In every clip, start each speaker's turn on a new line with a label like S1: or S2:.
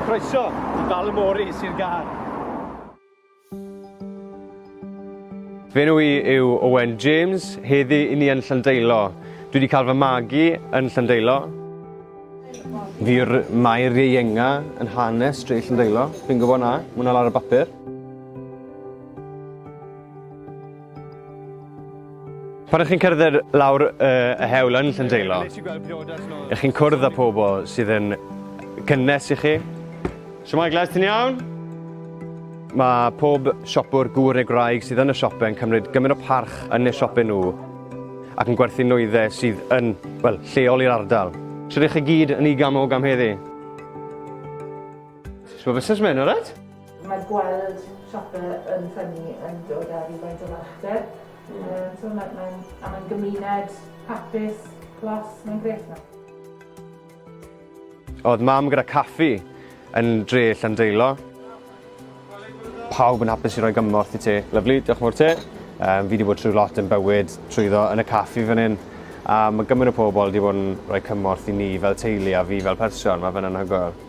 S1: Croeso i Ballymore, Sir Gâr. Fy enw i yw Owen James, heddi i ni yn Llandeilo. Dwi wedi cael fy magu yn Llandeilo. Fi yw'r Mair Ieuenga yn hanes dre Llyndeilo. Fi'n gwybod na, mae hwnna lawr y bapur. Pan ych chi'n cerdded lawr uh, y hewl yn Llyndeilo, ych chi'n cwrdd â pobl sydd yn cynnes i chi. So mae glas ti'n iawn? Mae pob siopwr gŵr neu graig sydd yn y siope yn cymryd gymaint o parch yn y siope nhw ac yn gwerthu nwyddau sydd yn, wel, lleol i'r ardal. So ydych chi gyd yn i gamog am heddi? So fusnes mynd, alright?
S2: Mae
S1: gweld siopau yn ffynnu yn dod â rhywfaint o fachder. Mm. Um, so mae'n mae, a mae'n gymuned hapus, clos, mae'n grêt yma. Oedd mam gyda caffi yn dre Llandeilo. Pawb yn hapus i roi gymorth i ti. Lyflu, diolch mor ti. Um, fi wedi bod trwy lot yn bywyd trwyddo yn y caffi fan hyn. A mae gymaint o pobl wedi bod yn rhoi cymorth i ni fel teulu a fi fel person. Mae fe'n anhygoel.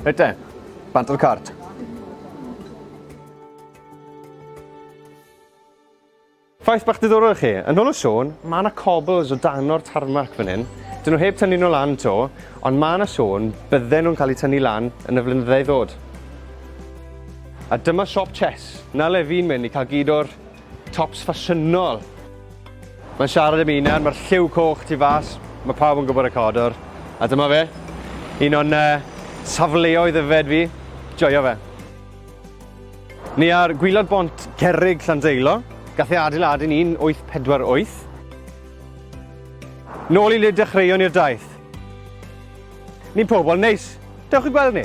S1: Reit te, bant o'r cart. Ffaith bach diddorol i chi, yn ôl o Siôn, mae yna cobbles o dan o'r tarmac fan hyn. Dyn nhw heb tynnu nhw lan to, ond mae yna sôn bydden nhw'n cael eu tynnu lan yn y flynyddau ddod. A dyma siop Chess, na le fi'n mynd i cael gyd o'r Tops ffasiynol! Mae'n siarad i mi nawr, mae'r lliw coch tu fas, mae pawb yn gwybod y cadwr, a dyma fe, un o'n uh, safleoedd yfed fi, joio fe. Ni ar gwylod bont Cerrig Llandeilo, gath ei adeiladu yn 1848. Nôl i le dechreuon i'r daith. Ni'n pobl neis, dewch i gweld ni.